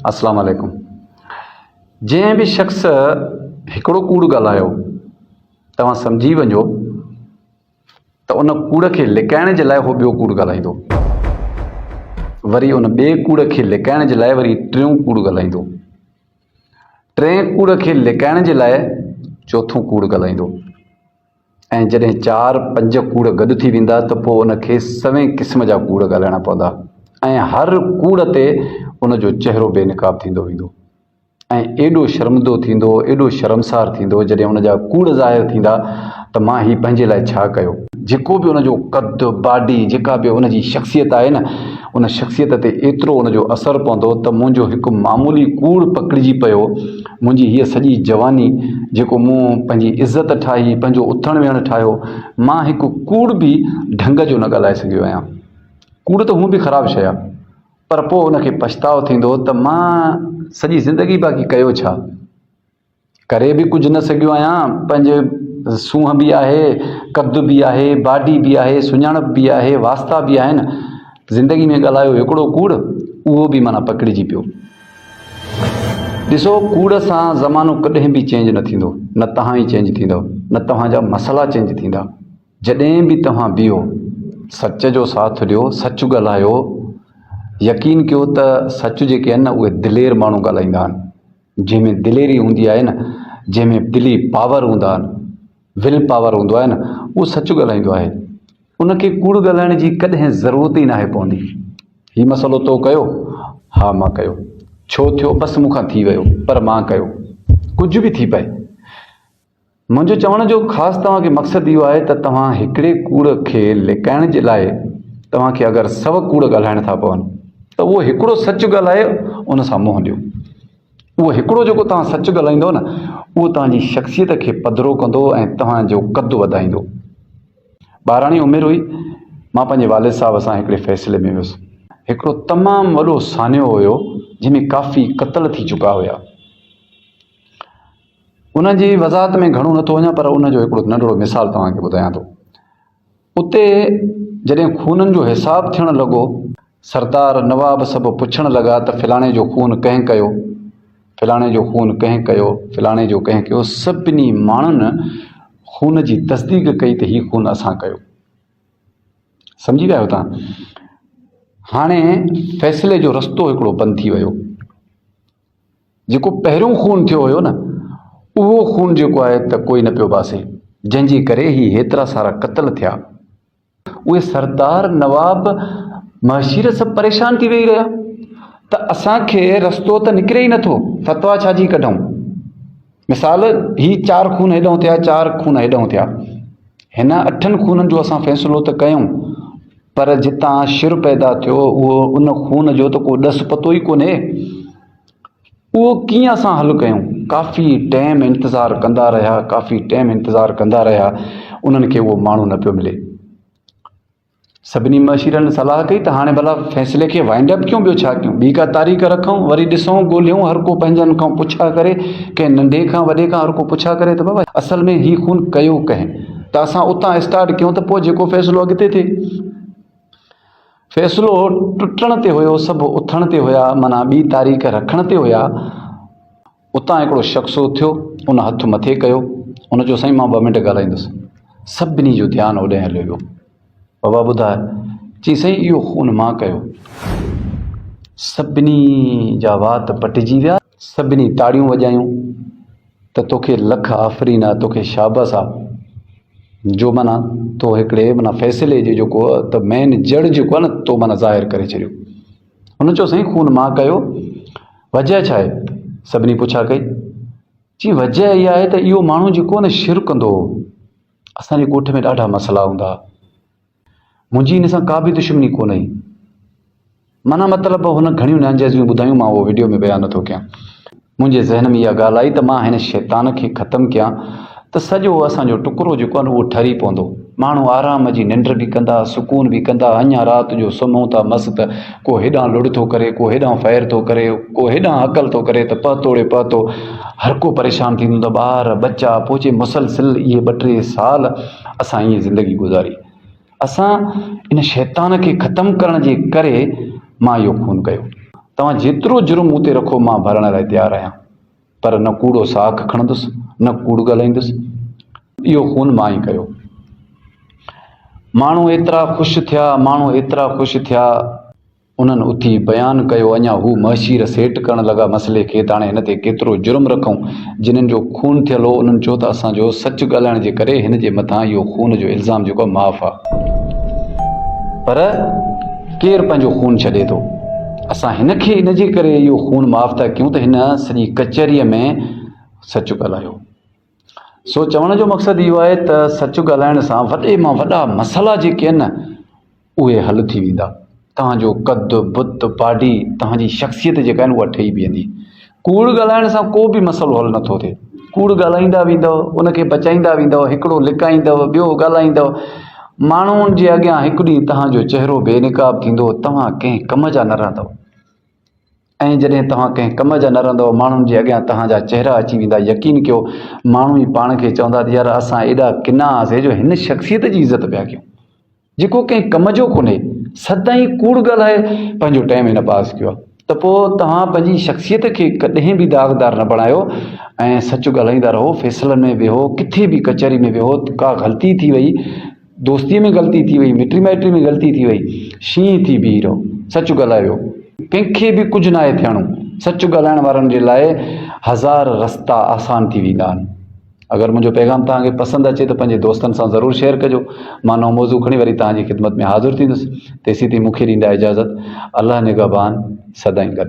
اسلام عليڪم جنهن به شخص هڪڙو ڪوڙ ڳالهايو توهان سمجهي وڃو ته ان ڪوڙ کي لڪائڻ جي لاء هو ٻيو ڪوڙ ڳالهائيندو وري ان ٻئي ڪوڙ کي لڪائڻ جي لاء وري ٽيون ڪوڙ ڳالهائيندو ٽئين ڪوڙ کي لڪائڻ جي لاء چوٿون ڪوڙ ڳالهائيندو ۽ جڏهن چار پنج ڪوڙ گڏ ٿي ويندا ته پوء ان کي سوين قسم جا ڪوڙ ڳالهائڻا پوندا ۽ هر ڪوڙ تي ان جو چهرو بي نقاب ٿيندو ويندو ۽ ايڏو شرمندو ٿيندو، ايڏو شرمسار ٿيندو جڏهن ان جا ڪوڙ ظاهر ٿيندا ته مان هي پنهنجي لاء ڇا ڪيو؟ جيڪو به ان جو قد، باڊي، جيڪا به ان جي شخصيت آهي نه ان شخصيت تي ايترو ان جو اثر پوندو ته منهنجو هڪ معمولي ڪوڙ پڪڙجي پيو منهنجي هيء سڄي جواني، جيڪو مون پنهنجي عزت ٺاهي، پنهنجو اٿڻ ويهڻ ٺاهيو، مان هڪ ڪوڙ به ڍنگ جو نه ڳالهائي سگهيو آهيان. ڪوڙ ته هونء به خراب شيء آهي، پر پوء ان کي پڇتاء ٿيندو ته مان سڄي زندگي باقي ڪيو ڇا؟ ڪري به ڪجهه نه سگهيو آهيان، پنهنجي سونهن به آهي، قد به آهي، باڊي به آهي، سڃاڻپ به آهي، واسطا به آهن، زندگي ۾ ڳالهايو هڪڙو ڪوڙ، اهو به معنيٰ پڪڙجي پيو. ڏسو ڪوڙ سان زمانو ڪڏهن به چينج نه ٿيندو نه توهان ئي چينج ٿيندؤ نه توهان جا مسئلا چينج ٿيندا جڏهن به توهان بيهو سچ جو ساٿ ڏيو سچ ڳالهايو يقين ڪيو ته سچ جيڪي آهن نه اهي دلير ماڻهو ڳالهائيندا آهن جنهن ۾ دليري هوندي آهي نه جنهن ۾ دلي پاور هوندا آهن ويل پاور هوندو آهي نه اهو سچ ڳالهائيندو آهي ان کي ڪوڙ ڳالهائڻ جي ڪڏهن ضرورت ئي ناهي پوندي هي مسئلو تو ڪيو ها مان ڪيو ڇو ٿيو بس مون کان ٿي ويو پر مان ڪيو ڪجهه به ٿي پئي منهنجو چوڻ جو خاص توهان کي مقصد اهو آهي ته توهان هڪڙي ڪوڙ کي لڪائڻ جي لاء توهان کي اگر سو ڪوڙ ڳالهائڻ ٿا پون ته اهو هڪڙو سچ ڳالهائي ان سان منهن ڏيو اهو هڪڙو جيڪو توهان سچ ڳالهائيندو نه اهو توهان جي شخصيت کي پڌرو ڪندو ۽ توهان جو قد وڌائيندو. ٻاراڻي عمر هئي، مان پنهنجي والد صاحب سان هڪڙي فيصلي ۾ ويس. هڪڙو تمام وڏو سانحو هيو جنهن ۾ ڪافي قتل ٿي چڪا هيا. ان جي وضاحت ۾ گهڻو نه ٿو وڃان پر ان جو هڪڙو ننڍڙو مثال توهان کي ٻڌايان ٿو. اتي جڏهن خونن جو حساب ٿيڻ لڳو، سردار نواب سڀ پڇڻ لڳا ته فلاڻي جو خون ڪنهن ڪيو؟ فلاڻي جو خون ڪنهن ڪيو؟ فلاڻي جو ڪنهن ڪيو؟ سڀني ماڻهن خون جي تصديق ڪئي ته هي خون اسان ڪيو. سمجهي ويا آهيو توهان؟ هاڻي فيصلي جو رستو هڪڙو بند ٿي ويو. جيڪو پهريون خون ٿيو هيو نه اهو خون جيڪو آهي ته ڪوئي نه پيو باسي جنهن جي ڪري هي هيترا سارا قتل ٿيا اهي سردار نواب مهشير سڀ پريشان ٿي ويهي رهيا ته اسان کي رستو ته نڪري ئي نٿو فتوا ڇا جي ڪڍون مثال، هي چار خون هيڏانهن ٿيا، چار خون هيڏانهن ٿيا. هن اٺن خونن جو اسان فيصلو ته ڪيون، پر جتان شر پيدا ٿيو، اهو ان خون جو ته ڪو ڏس پتو ئي ڪونهي. اهو ڪيئن اسان حل ڪيون؟ ڪافي ٽيم انتظار ڪندا رهيا، ڪافي ٽيم انتظار ڪندا رهيا، انهن کي اهو ماڻهو نه پيو ملي. سڀني مشيرن صلاح ڪئي ته هاڻي ڀلا فيصلي کي وائنڊ اپ ڪيون ٻيو ڇا ڪيون؟ ٻي ڪا تاريخ رکون وري ڏسون ڳولهيون هر ڪو پنهنجن کان پڇا ڪري ڪنهن ننڍي کان وڏي کان هر ڪو پڇا ڪري ته بابا اصل ۾ هي خون ڪيو ڪنهن؟ ته اسان اتان اسٽارٽ ڪيون ته پوء جيڪو فيصلو اڳتي ٿئي. فيصلو ٽٽڻ تي هيو سڀ اٿڻ تي هيا معنيٰ ٻي تاريخ رکڻ تي هيا. اتان هڪڙو شخص اٿيو ان هٿ مٿي ڪيو ان چيو سائين مان ٻه منٽ ڳالهائيندس سڀني جو ڌيان هوڏانهن هليو ويو بابا ٻڌاء چي سائين اهو خون مان ڪيو سڀني جا وات پٽجي ويا سڀني تاڙيون وڄايون ته توکي لک آفرين آ توکي شابس آ جو منا تو هڪڙي منا فيصلي جي جيڪو ته مين جڙ جيڪو آ نه تو منا ظاهر ڪري ڇڏيو هن چيو سائين خون مان ڪيو، وجهه ڇا آهي؟ سڀني پڇا ڪئي. چيائين وجهه اها آهي ته اهو ماڻهو جيڪو هن شرڪ ڪندو هو، اسان جي ڳوٺ ۾ ڏاڍا مسئلا هوندا ها. منهنجي هن سان ڪا به دشمني ڪونه هئي. معنيٰ مطلب هن گهڻيون نانجائزيون ٻڌايون مان اهو وڊيو ۾ بيان نٿو ڪيان. منهنجي ذهن ۾ اها ڳالهه آئي ته مان هن شيطان کي ختم ڪيان ته سڄو اسان جو ٽڪرو جيڪو آهي نه اهو ٺري پوندو. ماڻهو آرام جي ننڊ به ڪندا، سڪون به ڪندا، اڃا رات جو سمهون ٿا مس ته ڪو هيڏانهن لڙ ٿو ڪري، ڪو هيڏانهن فير ٿو ڪري، ڪو هيڏانهن هڪل ٿو ڪري ته پهتوڙي پهتو هر ڪو پريشان ٿيندو هوندو ٻار، ٻچا، پوء چي مسلسل اهي ٻه ٽي سال اسان ائين زندگي گذاري. اسان ان شيطان کي ختم ڪرڻ جي ڪري مان اهو خون ڪيو. توهان جيترو جرم مون تي رکو مان ڀرڻ لاء تيار آهيان پر نه ڪوڙو ساک کڻندس نه ڪوڙ ڳالهائيندس. اهو خون مان ئي ڪيو. ماڻهو ايترا خوش ٿيا ماڻهو ايترا خوش ٿيا. انهن اٿي بيان ڪيو اڃا هو مهشير سيٽ ڪرڻ لڳا مسئلي کي ته هاڻي هن تي ڪيترو جرم رکون. جنهن جو خون ٿيل هو انهن چيو ته اسان جو سچ ڳالهائڻ جي ڪري هن جي مٿان اهو خون جو الزام جيڪو آهي معاف آهي. پر ڪير پنهنجو خون ڇڏي ٿو. اسان هن کي ان جي ڪري اهو خون معاف ٿا ڪيون ته هن سڄي ڪچهريء ۾ سچ ڳالهايو. سو چوڻ جو مقصد اهو آهي ته سچ ڳالهائڻ سان وڏي مان وڏا مسئلا جيڪي آهن نه اهي حل ٿي ويندا توهان جو قد بت باڊي توهان جي شخصيت جيڪا آهن اها ٺهي بيهندي ڪوڙ ڳالهائڻ سان ڪو به مسئلو حل نٿو ٿئي ڪوڙ ڳالهائيندا ويندو ان کي بچائيندا ويندو هڪڙو لڪائيندو ٻيو ڳالهائيندو ماڻهن جي اڳيان هڪ ڏينهن توهان جو چهرو بي نقاب ٿيندو توهان ڪنهن ڪم جا نه رهندو ۽ جڏهن توهان ڪنهن ڪم جا نه رهندؤ، ماڻهن جي اڳيان توهان جا چهرا اچي ويندا، يقين ڪيو، ماڻهو ئي پاڻ کي چوندا ته يار اسان ايڏا ڪنا هئاسين جو هن شخصيت جي عزت پيا ڪيون، جيڪو ڪنهن ڪم جو ڪونهي، سدائين ڪوڙ ڳالهائي پنهنجو ٽائيم هن پاس ڪيو آهي. ته پوء توهان پنهنجي شخصيت کي ڪڏهن به داغدار نه بڻايو ۽ سچ ڳالهائيندا رهو، فيصلن ۾ ويهو، ڪٿي به ڪچهري ۾ ويهو، ڪا غلطي ٿي وئي، دوستيء ۾ غلطي ٿي وئي، مٽي مائٽي ۾ غلطي ٿي وئي، شينهن ٿي بيهي رهو، سچ ڳالهايو. ڪنهن کي به ڪجهه ناهي ٿيڻو. سچ ڳالهائڻ وارن جي لاء هزار رستا آسان ٿي ويندا آهن. اگر منهنجو پيغام توهان کي پسند اچي ته پنهنجي دوستن سان ضرور شيئر ڪجو. مان نئون موضوع کڻي وري توهان جي خدمت ۾ حاضر ٿيندس. تيسين تائين مون کي ڏيندا اجازت. الله نگهبان سدائين گڏ.